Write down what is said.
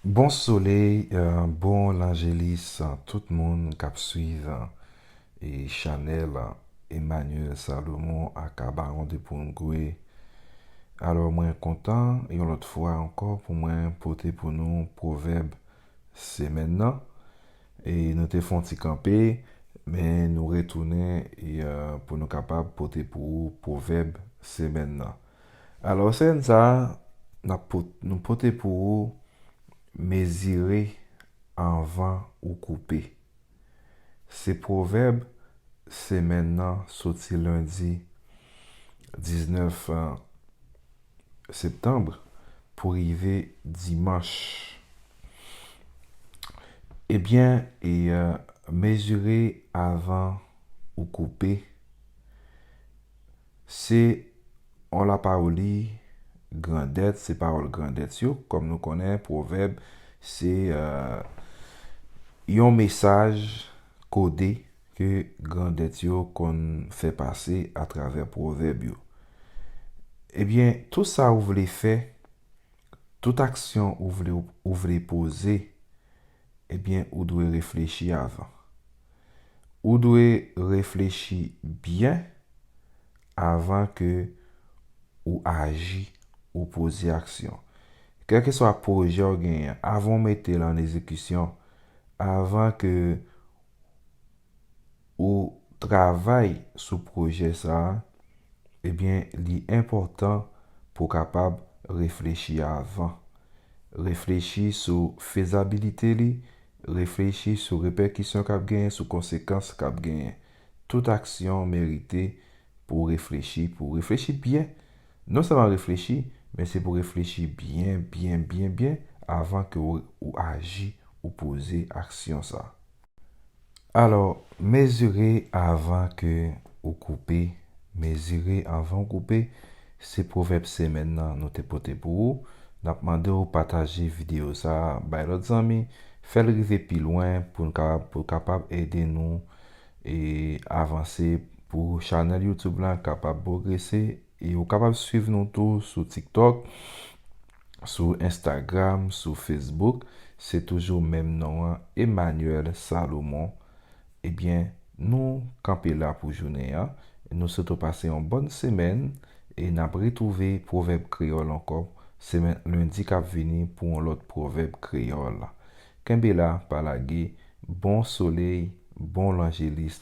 Bon soley bon lanjelis tout moun kap swiv chanèl Emmanuel Salomon aka Baron de Poungwe alò mwen kontan yon lòt fwa ankò pou mwen pote pou nou pwovèb semèn nan e nou te fon ti kanpe men nou retounen pou nou kapab pote pou ou pwovèb semèn nan Alò sèn sa a nap pot nou pote pou ou mezire anvan ou koupe. Se pwovèb semèn nan soti lendi 19 septanb pou rive dimanch. Ebyen e mezire avan ou koupe. Se on la paroli grandèt, se pawòl grandèt yo. Kòm nou konnen, pwovèb se yon mesaj kode ke grandèt yo konn fè pase atravè pwovèb yo. Ebyen, tout sa ou vle fè, tout aksyon ou vle poze, Ebyen ou dwe reflechi avan. Ou dwe reflechi byen avan ke ou aji ou poze aksyon. Kèlkeswa pwojè ou genyen, avan ou mete l an ezekisyon, avan ke ou travay sou pwojè sa a, ebyen li enpòtan pou w kapab reflechi avan. Reflechi sou fezabilite li, reflechi sou repèkisyon k ap genyen, sou konsekans k ap genyen. Tout aksyon merite pou w reflechi, pou w reflechi byen. Non sèlman reflechi, men se pou w reflechi byen, byen, byen, byen avan ke ou aji, ou poze aksyon sa a. Alò, mezire avan ke ou koupe, mezire avan ou koupe, se pwovèb semèn nan nou te pote pou ou. N ap mande ou pataje videyo sa a bay lòt zanmi, fè l rive pi lwen pou n ka, pou l kapab ede nou e avanse pou chanèl youtube lan kapab pwogrese. E ou kapab swiv nou tou sou tiktok, sou instagram, sou facebook, se toujou menm non an Emmanuel Salomon. Ebyen nou kanpe la pou jounen an, nou swete w pase yon bòn semèn e n ap retwouve pwovèb kreyòl ankò semèn lendi k ap vini pou yon lòt pwovèb kreyòl. Kenbe la pa lage, bon soley, bon lanjelis.